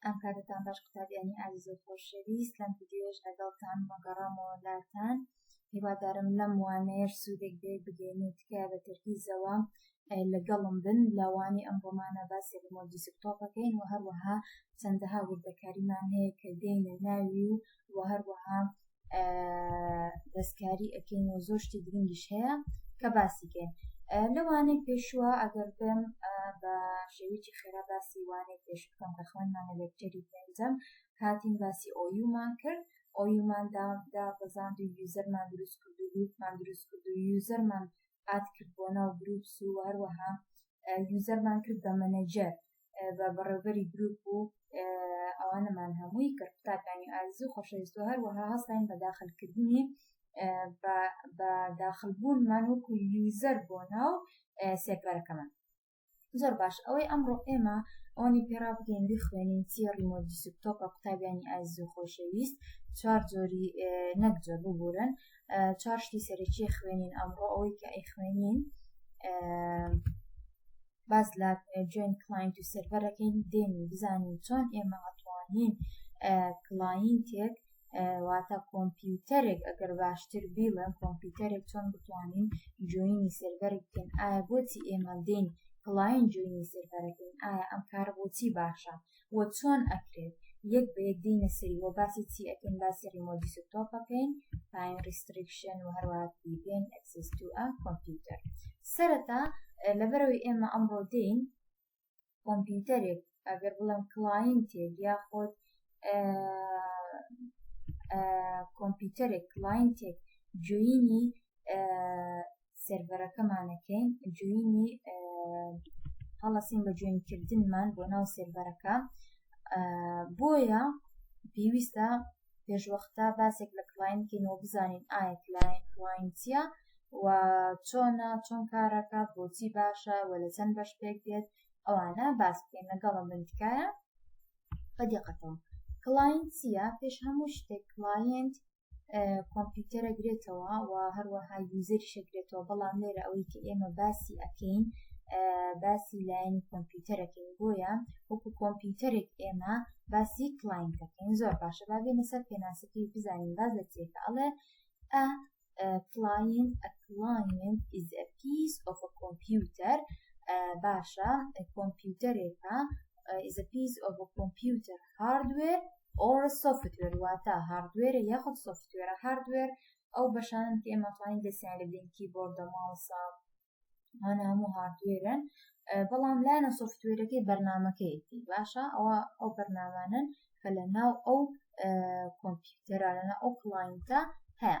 ئەم کارەتان باش قوتابیانی ئازیز و خۆشەویست لەم ڤیدیۆش لەگەڵتان مەگەڕامەوە لاتان هیوادارم لەم وانەیەش سوودێک بێ بگەین و تکایە بە تەرکیزەوە لەگەڵم بن لەوانی ئەم ڕۆمانە باسی ڕمۆدی سکتۆپەکەین و هەروەها چەندەها وردەکاریمان هەیە کە دێنە ناوی و هەروەها دەستکاری ئەکەین و زۆر شتی گرنگیش هەیە کە باسی کەین لەوانەی پێشوە ئەگەر بێم بە شێویی خێرا باسی وانەی پێش بکەم کە خوێنمان لە لێکتەری پێنجەم هاتین باسی ئۆیومان کرد ئۆیومان دا بەزاند و یوزەرمان دروست کرد و گروپمان دروست کرد و یوزەرمان ئات کرد بۆ ناو گروپس و هەروەها یوزەرمان کرد بە مەنەجەر بە بەڕێوبەری گروپ و ئەوانەمان هەمووی کە قوتابانی ئازیزی خۆشەویست و هەروەها هەستین بە داخلکردنی بە داخلبوونمان وەکو یوزەر بۆ ناو سێکبەرەکەمان زۆر باش ئەوەی ئەمڕۆ ئێمە ئەوانی پێرا بگەین بخوێنین چیە ڕیمۆدی سوپتۆپە قوتابیانی ئازیز و خۆشەویست چوار جۆری نەک جۆر ببورن چوار شتی سەرەکی خوێنین ئەمڕۆ ئەوەی کە ئەی خوێنین باس لە جوێن کلاینت و سێرڤەرەکەین دێن و بزانین چۆن ئێمە ئەتوانین کلاینتێک واتە کۆمپیوتەرێک ئەگەر باشتر بیڵێن کۆمپیوتەرێک چۆن بتوانین جوینی سێرڤەرێک بکەین ئایا بۆچی ئێمە دێن کلاین جوینی سێرڤەرەکەین ئایا ئەم کارە بۆچی باشە و چۆن ئەکرێت یەک بە یەک دێینە سەری و باسی چی ئەکەین باسی ڕیمۆت دیسکتۆپ ئەکەین تایم ڕیستریکشن و هەروەها پریڤێنت ئەکسس تو ئە کۆمپیوتەر سەرەتا لەبەرەوەی ئێمە ئەمڕۆ دێین کۆمپیوتەرێک ئەگەر بڵێم کلاینتێک یاخۆت کۆمپیوتەرێک کلاینتێک جوینی سێرڤەرەکەمانەکەین جوینی هەڵەسین بە جوێنکردنمان بۆ ناو سێرڤەرەکە بۆیە پێویستە پێشوەختە باسێک لە کلاینکەینەوە بزانین ئایا کلاینسیە و چۆنە چۆن کارەکە بۆچی باشە و لە چەند بەش پێک دێت ئەوانە باس بکەین لەگەڵە بنتکایە بەدیقەتەوە کلاینسیە پێش هەموو شتێک کلاینت کۆمپیوتەرە گرێتەوە و هەروەها یوزەری شەگرێتەوە بەڵام لێرە ئەوەی کە ئێمە باسی ئەەکەین باسی لایەنی کۆمپیوتەرەکەین بۆیە وەکو کۆمپیوتەرێک ئێمە باسی کلاینتەکەین زۆر باشە با بێنە سەر پێناسەکەی بزانین باز لە تێکە ئەڵێ ئە کلاین ئەکلاین is a piece of a computer باشە کۆمپیوتەرێکە is a piece of a computer هاردوێر ئۆڕ سۆفتوێر واتە هاردوێرە یاخود سۆفتوێرە هاردوێر ئەو بەشانن کە ئێمە توانین دەستیان لە بدەین کیبۆردە ماوسە هەنە هەموو هاردوێرن بەڵام لایەنە سۆفتوێرەکەی بەرنمەکەیەتی باشە ئەوە ئەو بەرنامانن کە لە ناو ئەو کۆمپیوتەرانە ئەو کڵینتە هەیە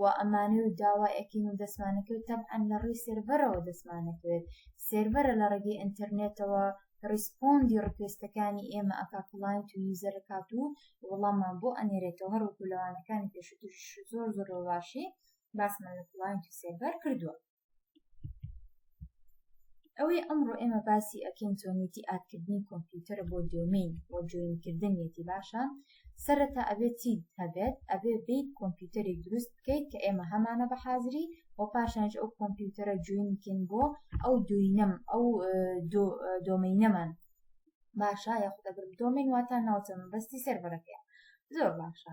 و ئەمانەی و داوای ئەکەین و دەستمانەکەوێت تەبعەن لە ڕێی سێرڤەرەوە دەستمانەکەوێت سێرڤەرە لە ڕێگەی ئینتەرنێتەوە ڕیسپۆندی ڕکوێستەکانی ئێمە ئەکا کڵاینت و یوزەر ئەکات و وەڵاممان بۆ ئەنێرێتەوە هەروەکو لەوانەکانی پێشووتریش زۆر زۆر بە باشی باسمان لە کڵاینت و سێرڤەر کردووە. ئەوەی ئەمڕۆ ئێمە باسی ئەکەین چۆنێتی ئاکردنی کۆمپیوتەرە بۆ دۆمین بۆ جوێنکردنیەتی باشە سەرەتا ئەبێت چی هەبێت ئەبێ بیت کۆمپیوتەری دروست بکەیت کە ئێمە هەمانە بە حازری و پاشانج ئەو کۆمپیوتەرە جوێنکن بۆ ئەو دوینەم ئەو دۆمینەمان باشە یاخود ئەگرم دۆمین واتان ناوچە مەبەستی سەرەرەکەیە زۆر باشە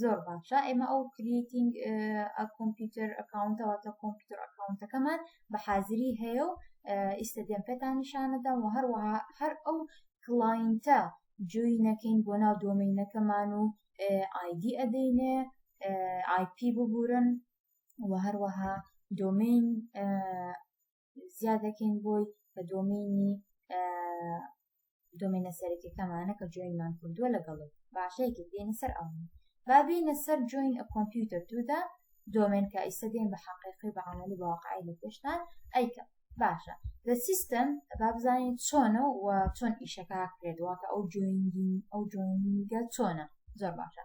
زۆر باشە ئێمە ئەو کریتینگ کۆمپیوتەر ئەکاونتەوەتە کۆمپیوتەر ئەکاونتەکەمان بە حازری هەیە و ئیستا دێن پێتان نیشانەدەم و هەروەها هەر ئەو کلاینتە جوی نەکەین بۆ ناو دۆمینەکەمان و ئایدی ئەدەینێ ئایپی ببورن و هەروەها دۆمین زیاد دەکەین بۆی بە دۆمینی دۆمینە سەرەکەکەمانە کە جوینمان کردووە لەگەڵ باشەیەکی بێنە سەر ئەوان با بێنە سەر جوین ئە کۆمپیوتەر دوودا دۆمێن کە ئیسە دێن بە حقیقی بە عملی بەواقعی لە پێشتان ئەیکە باشە لە سیستم با بزانین چۆنە و چۆن ئیشەکە کرێت واتە ئەو جوینگین ئەو جوینگە چۆنە زۆر باشە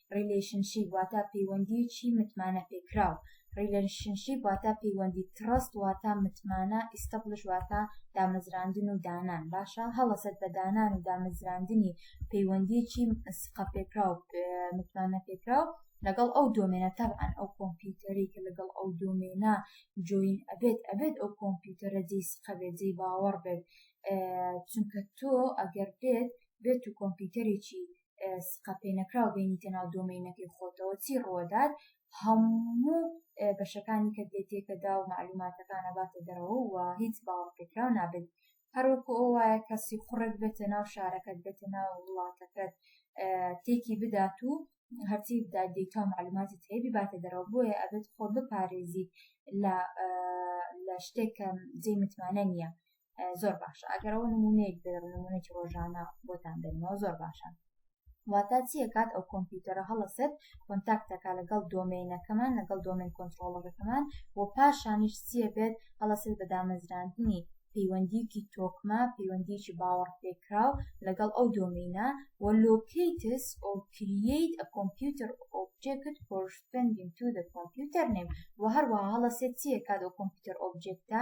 ڕیلەیشنشیپ واتا پەیوەندیەکی متمانە پێکراو ڕیلەشنشیپ واتا پەیوەندی تڕەست واتا متمانە ئیستەبڵش واتا دامەزراندن و دانان باشە هەڵەسەت بە دانان و دامەزراندنی پەیوەندیەکی سقە پێکراو متمانە پێکراو لەگەڵ ئەو دۆمێنە تەبعەن ئەو کۆمپیوتەری کە لەگەڵ ئەو دۆمێنە جوین ئەبێت ئەبێت ئەو کۆمپیوتەرە جێی سقەبێت جێی باوەڕ بێت چونکە تۆ ئەگەر بێت بێت و کۆمپیوتەرێکی سقە پێ نەکراو بینیتە ناو دۆمینەکەی خۆتەوە چی ڕۆدار هەموو بەشەکانی کە دێتێکەدا و معلوماتەکانە باتە دەرەوە و هیچ باوەڕپێکراو نابێت هەروەکو ئەو وایە کەسی خوڕێک بێتە ناو شارەکەت بێتە ناو وڵاتەکەت تێکی بدات و هەرچی بدا دیتا معلوماتی تێبی باتە دەرەوە بۆیە ئەبێت خۆ بپارێزیت لە لە شتێکم جێ متمانە نییە زۆر باشە ئەگەرەوە نمونەیەک دەر نمونەی ڕۆژانە بۆتان دەنەوە زۆر باشە واتە چیە کات ئەو کۆمپیوتەرە هەڵەسێت کۆنتاکتەکە لەگەڵ دۆمینەکەمان لەگەڵ دۆمین کۆنتترۆڵەکەمان و پاشانیش چیە بێت هەڵەسێت بە دامەزراندنی پەیوەندیکی تۆکمە پەیوەندیکی باوەڕ پێکراو لەگەڵ ئەو دۆمینە و لۆکیتس ئەو کرییت ئە کۆمپیوتەر ئۆبجێکت پۆشتندین تو دە کۆمپیوتەر نێم و هەروە هەڵەسێت چیە کات ئەو کۆمپیوتەر ئۆبجێکتە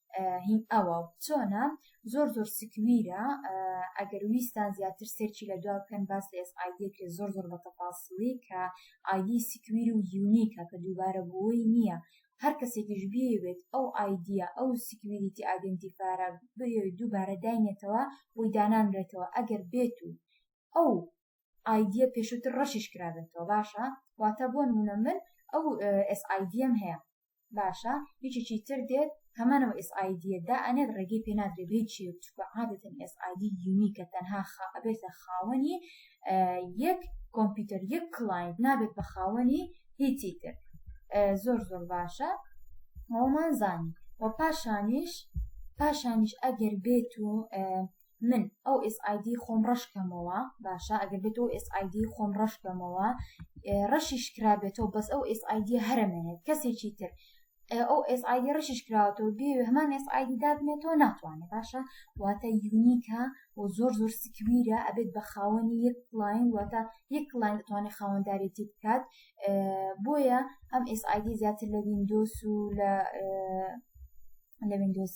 هین ئەوە چۆنە زۆر زۆر سکویرە ئەگەر ویستان زیاتر سێرچی لە دوا بکەن باس لە ئێس ئایدێکێ زۆر زۆر بە تەپاسڵی کە ئایدی سکویر و یونیکە کە دووبارە بووی نییە هەر کەسێکیش بێوێت ئەو ئایدە ئەو سکویریتی ئایدنتیفارە بەوێت دووبارە داینێتەوە بۆی دانانرێتەوە ئەگەر بێت و ئەو ئایدە پێشوتر ڕەشیش کرابێتەوە باشە واتە بۆ نمونە من ئەو ئێس ئایدم هەیە باشە یەکێکی تر دێت هەمانەوە ئێس ئایدیە دا ئەنێت ڕێگەی پێ نادرێ بێ چی چکە عادەتەن ئێس ئایدی یونیکە تەنها خا ئەبێتە خاوەنی یەک کۆمپیوتەر یەک کلاینت نابێت بە خاوەنی هیچی تر زۆر زۆر باشە ئەومان زانی و پاشانیش پاشانیش ئەگەر بێت و من ئەو SID خۆم ڕەش کەمەوە باشە ئەگەر بێت ئەو SID خۆم ڕەش کەمەوە ڕەشیش کرابێتەوە بەس ئەو SID هەرمێنێت کەسێکی تر ئەو SID ڕشیش کراوەتەوە بێ هەمان SID دابنێتەوە ناتوانێت باشە واتە یونیکە و زۆر زۆر سکویرە ئەبێت بە خاوەنی یەک لاین واتە یەک لاین توانێت خاوەندارێتی بکات بۆیە ئەم SID زیاتر لە وینندۆس و لە لە وینندۆس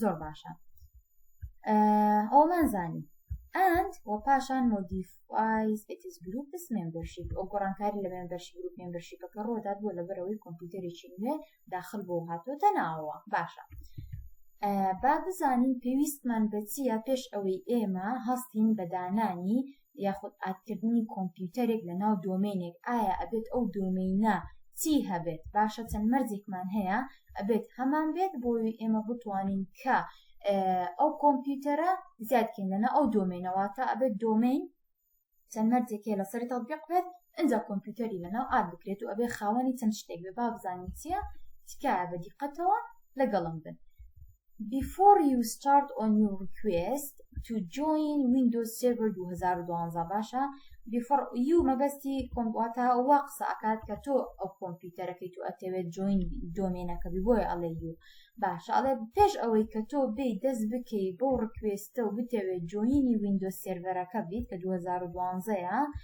زۆر باشە ئەومان زانی ئەند و پاشان مۆدیفایز ئتیز گروپ مێمبەرشیپ ئەو گۆڕانکاری لە مێمبەرشی گروپ مێمبەرشیپەکە ڕۆدات بۆ لەبەرەوەی کۆمپیوتەرێکی نوێ داخل بۆ هاتۆتە ناوە باشە با بزانین پێویستمان بەچیە پێش ئەوەی ئێمە هەستین بەدانانی یاخود ئادکردنی کۆمپیوتەرێک لە ناو دۆمێنێک ئایا ئەبێت ئەو دۆمینە چی هەبێت باشە چەند مەرجێکمان هەیە ئەبێت هەمان بێت بۆی ئێمە بتوانین کە ئەو کۆمپیوتەرە زیادکەین لەنا ئەو دۆمێنەوە تا ئەبێت دۆمین چەند مەرجێکێ لەسەری تەبیق بێت ئینجا کۆمپیوتەری لەناو ئاد بکرێت و ئەبێ خاوەنی چەند شتێک بێ با بزانین چییە تکایە بە دیقەتەوە لەگەڵم بن Before you start on your request to join Windows Server 2012 باشە Before you مەبەستی کۆمپواتە وا قسە ئەکات کە تۆ ئەو کۆمپیوتەرەکەی تو ئەتەوێت جوین دۆمێنەکە بی بۆیە ئەڵێ یو باشە ئەڵێ پێش ئەوەی کە تۆ بێ دەست بکەی بۆ ڕکوێستە و بتەوێت جوینی Windows سێرڤەرەکە بیت کە 2012ە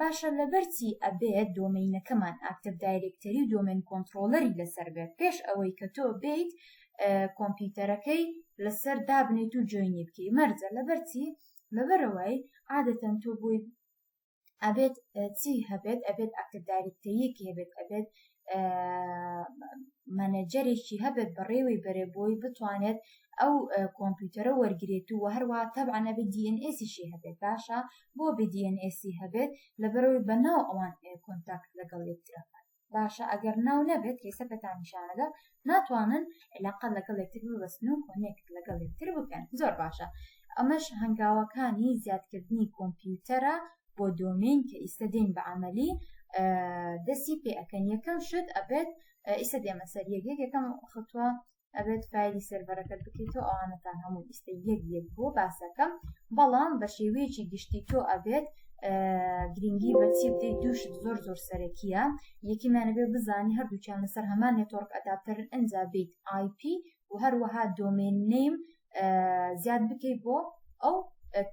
باشە لەبەر چی ئەبێت دۆمەینەکەمان ئاکتڤ دایرێکتەری و دۆمێن کۆنتڕۆڵەری لەسەر بێت پێش ئەوەی کە تۆ بێیت کۆمپیوتەرەکەی لەسەر دابنێیت و جۆینی بکەی مەرجە لەبەر چی لەبەرەوەی عادەتەن تۆ بۆی ئەبێت چی هەبێت ئەبێت ئاکتڤ دایرێکتەریەکی هەبێت ئەبێت مەنەجەرێکی هەبێت بەڕێوەی بەرێ بۆی بتوانێت ئەو کۆمپیوتەرە وەرگێت و هەروە تەبانە بە دیNSیشی هەبێت باشە بۆ بدیNSی هەبێت لەبەرەوەی بە ناو ئەوان کۆنتاکت لەگەڵ یەکترەکان باشە ئەگەر ناو نەبێت کەیسەکەتانشانەدا ناتوانن عیلاقە لەگەڵ یەکتر ببەستن و کۆنێکت لەگەڵ یەکتر بکەن زۆر باشە ئەمەش هەنگاوەکانی زیادکردنی کۆمپیوتەرە بۆ دۆمین کە ئیستا دێن بە عملی دەستی پێ ئەەکەن یەکەم شت ئەبێت ئیستا دێمە سەر یەک یەک یەکەم خەتوە ئەبێت فایلی سەرەرەکەت بکەیت و ئەوانەتان هەموو ئیستا یەک یەک بۆ باسەکەم بەڵام بە شێوەیەکی گشتی تۆ ئەبێت گرینگی بە چی بدەیت دوو شت زۆر زۆر سەرەکیە یەکیمانەبێ بزانی هەردووچیان لەسەر هەمان نێتۆرک ئەداپتەرن ئەجا بیت آیP و هەروەها دۆمێن نیم زیاد بکەیت بۆ ئەو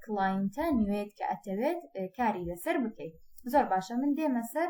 کلاینتە نوێت کە ئەتەوێت کاری لەسەر بکەیت زۆر باشە من دێمە سەر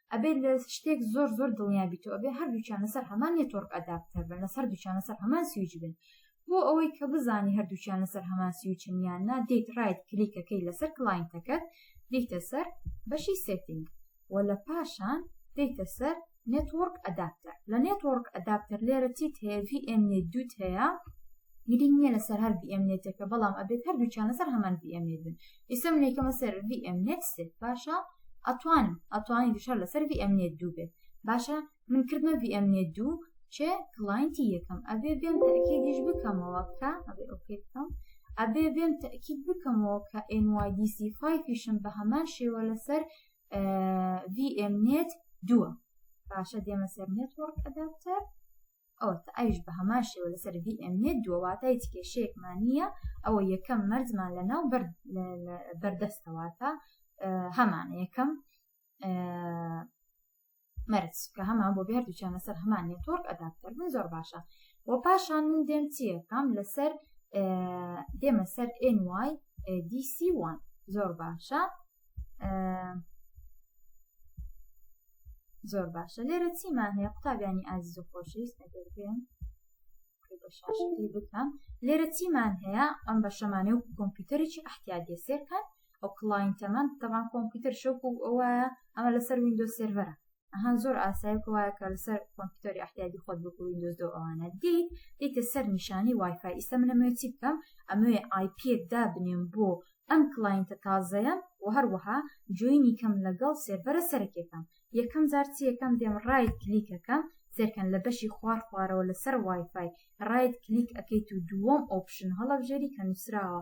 ئەبێت لە شتێک زۆر زۆر دڵنیابیتەوە ئەبێ هەردووچان لەسەر هەمان نێتۆرک ئەداپتەر بن لەسەر دوچان لەسەر هەمان سویچ بن بۆ ئەوەی کە بزانی هەردووچان لەسەر هەمان سویچن یان نا دیت ڕایت کلیکەکەی لەسەر کلاینتەکەت دیتە سەر بەشی سێتینگ و لە پاشان دیتە سەر نێتۆرک ئەداپتەر لە نێتۆرک ئەداپتەر لێرە چیت هەیە VM نێت دوت هەیە گرنگ نییە لەسەر هەر VM نێتەکە بەڵام ئەبێت هەردووچان لەسەر هەمان VM نێت بن ئیسە من یکەمە سەر VMNet سێ باشە ئەتوانم ئەتوانی فشار لەسەر VMNet دوو بێ باشە من کردمە VMNet دوو چێ کلاینتی یەکەم ئەبێ بێم تاکیدیش بکەمەوە کە ئەبێ ئۆکەی بکەم ئەبێ بێم تاکید بکەمەوە کە NYDC5 پیشم بە هەمان شێوە لەسەر VMNet دووە باشە دێمە سەر نێتوەڕک ئەداپتەر ئەوە ئەوش بە هەمان شێوە لەسەر VMێ دووەواتە هیچ کێشەیەکمان نییە ئەوە یەکەم مەرزمان لە ناو بەردەستەواتە هەمان یەکەم مەرج کە هەمان بۆ بێر دوچانە سەر هەمان نێتۆرک ئەداپتەر بن زۆر باشە و پاشان من دێم چیەکەم لەسەر دێمە سەر NY DC1 زۆر باشە زۆر باشە لێرە چیمان هەیە قوتابیانی ئازیز و خۆشەویست ئەگەرگەن بکەم لێرە چیمان هەیە ئەم بە شەمانێ و کۆمپیوتەرێکی ئەحتیادی سێرکەن ئەو کلاینتەمان تەمان کۆمپیوتەر شەوک و ئەوە ئەمە لەسەر وینندۆ سێرڤەرە هەن زۆر ئاسای وایە کە لەسەر کۆمپیوتەری احتیادی خۆت بکو وینندۆز دۆ ئەوانە دیت دیتە سەر نیشانی وایفای ئیستا منەمە چی بکەم ئەمەێ آیپیەک دابنێم بۆ ئەم کلاینتە تازەیە و هەروەها جوینی کەم لەگەڵ سێرڤەرە سەرەکێکم یەکەم جار چی یەکەم دێم ڕای کلیکەکەم سێرکەن لە بەشی خوار خوارەوە لەسەر وایفای ڕایت کلیک ئەەکەیت و دووەم ئۆپشن هەڵەبژێری کە نووسراوە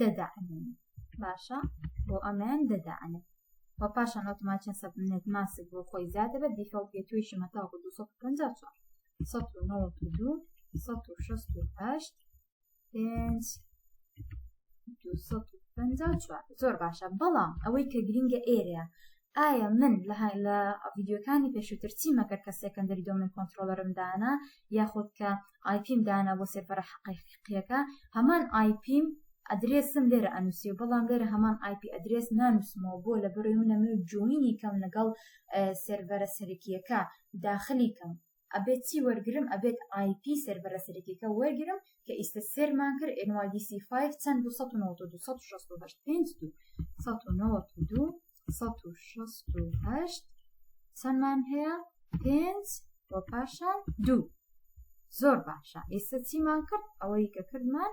دەدا ئەنێن باشە بۆ ئەمەیان دەدا ئەنێن و پاشان ئۆتۆماتیان سەبنێت ماسک بۆ خۆی زیادە بە دیفەڵ بێ توێشی مەتاوکو 254 1992 1968 پێنج زۆر باشە بەڵام ئەوەی کە گرنگە ئێرەیە ئایا من لە لە ڤیدیۆکانی پێشووتر چیم ئەکرد کە سێکەندەری دۆمێن کۆنترۆڵەرم دانا یاخود کە ئای پیم دانا بۆ سێرڤەرە حەقیقییەکە هەمان ئای پیم ئەدرێسم لێرە ئەنووسی و بەڵام لێرە هەمان ئای پی ئەدرێس نانووسمەوە بۆ لە بەرۆی منە من جوینی کەم لەگەڵ سێرڤەرە سەرەکییەکە داخلی کەم ئەبێت چی وەرگرم ئەبێت ئای پی سێرڤەرە سەرەکیەکە وەرگرم کە ئیستە سێرمان کرد NYDC 5 چەند 292268 5 دوو 1992 1968 چەندمان هەیە پێنج و پاشان دوو زۆر باشە ئێستا چیمان کرد ئەوەی کە کردمان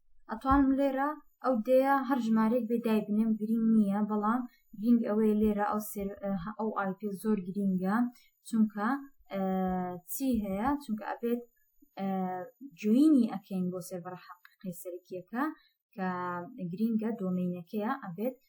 ئەتوانم لێرە ئەو دەیە هەر ژمارەێک بێ دایبنێم گرنگ نییە بەڵام گرنگ ئەوەیە لێرە ئەو ئەو ئایپێ زۆر گرنگە چونکە چی هەیە چونکە ئەبێت جوینی ئەکەین بۆ سێبڕە حەقیقی سەرکیەکە کە گرینگە دۆمینەکەیە ئەبێت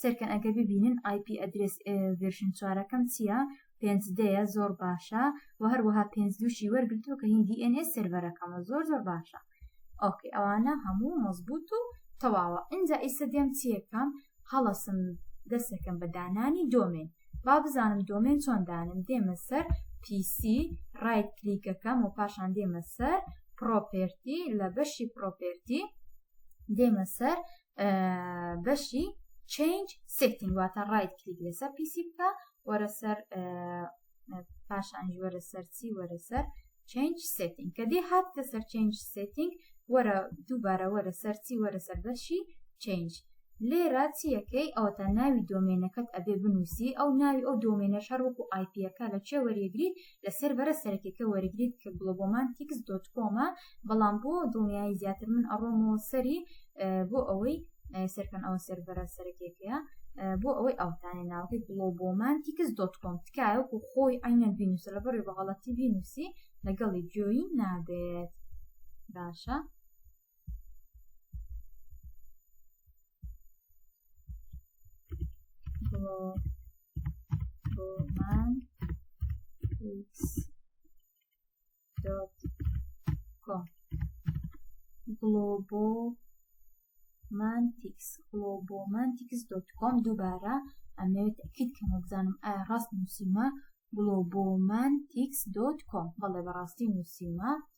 سەیرکەن ئەگەر ببینن ئای پی ئەدرێس ڤێرشن چوارەکەم چییە پێنج دەیە زۆر باشە و هەروەها پێنج دووشی وەرگرتووە کە هیندی ئێنێ سێرڤەرەکەمە زۆر زۆر باشە ئۆکەی ئەوانە هەموو مەزبوط و تەواوە ئینجا ئیسە دێم چیەکەم هەڵەسم دەستەکەم بە دانانی دۆمێن با بزانم دۆمێن چۆن دانم دێمە سەر پیسی ڕایت کلیکەکەم و پاشان دێمە سەر پرۆپێرتی لە بەشی پرۆپێرتی دێمە سەر بەشی چنج سفتنگ واتە ڕایت کلیک لەسەر پیسی بکە وەرە سەر پاشانج وەرە سەرچی وەرە سەر چنج سفتنگ کە دێ هات کە سەر چنج سفتنگ وەرە دووبارە وەرە سەرچی وەرە سەر بەشی چنج لێرە چیەکەی ئەوتە ناوی دۆمێنەکەت ئەبێ بنووسی ئەو ناوی ئەو دۆمێنە شەر وەکو آیپیەکە لە چێ وەرێگریت لە سێرڤەرە سەرەکیەکە وەرگریت کە گڵۆبۆمانتیکس دۆت کۆمە بەڵام بۆ دڵنیایی زیاتر من ئەڕۆمەوە سەری بۆ ئەوەی سەرکەن ئەوە سەرڤەرە سەرەکیەکەیە بۆ ئەوەی ئەوتانێ ناوەکەی گڵۆبۆمانتیکس دۆت کۆم تکایەکو خۆی ئەینە بینوسە لە بەڕێ بەغەڵەتی بینوسی لەگەڵی جۆی نابێت باشە ڕۆمان گڵۆبۆ مانتیکس گڵۆبۆ مانتیکس دۆت کۆم دووبارە ئەمەوێت ئەکیت کە نەبزانم ئایا ڕاست نووسیمە گڵۆبۆ مانتیکس دۆت کۆم بەڵێ بەڕاستی نووسیمە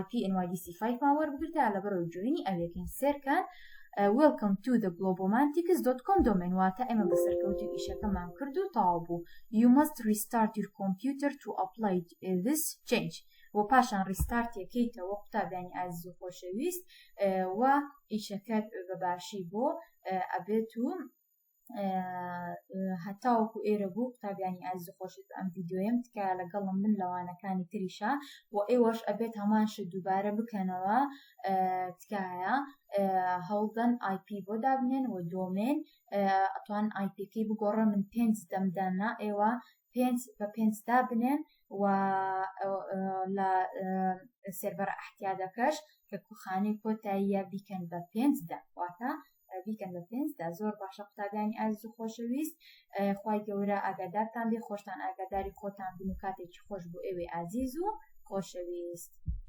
IP NYDC 5 ما وەربگرت یا لەبەرەوە جوێنی ئەوێکین سێرکان وێلکەم تو دە گلۆبۆمانتیکس دۆت کۆم دۆمێن واتە ئێمە بە سەرکەوتی و ئیشەکەمان کرد و تەواو بوو you must restart your computer to apply this change و پاشان ڕیستارتێکەیتەوە قوتابیانی ئازیز و خۆشەویست و ئیشەکە بە باشی بۆ ئەبێت و هەتاوەکو ئێرە بوو قوتابیانی ئازی خۆشت ئەم یددیوەم تکایە لەگەڵم من لەوانەکانی تریشا و ئێوەش ئەبێت هەمانش دووبارە بکەنەوە تکایە هەوڵدەن آیP بۆ دابنێن و دۆمێن ئەتوان آیPکی بگۆڕە من پێنج دەمداننا ئێوە پێنج بە پێنج دابنێن و لە سێربەر ئەحتیادەکەش کە کوخانی کۆتاییە بیکەن بە پێنج دە واتە بیکەن بە پێنجدا زۆر باشە قوتابیانی ئازیز و خۆشەویست خی گەورە ئاگادارتان بێ خۆشتان ئاگاداری خۆتان بن و کاتێکی خۆش بۆ ئێوێ ئازیز و خۆشەویست.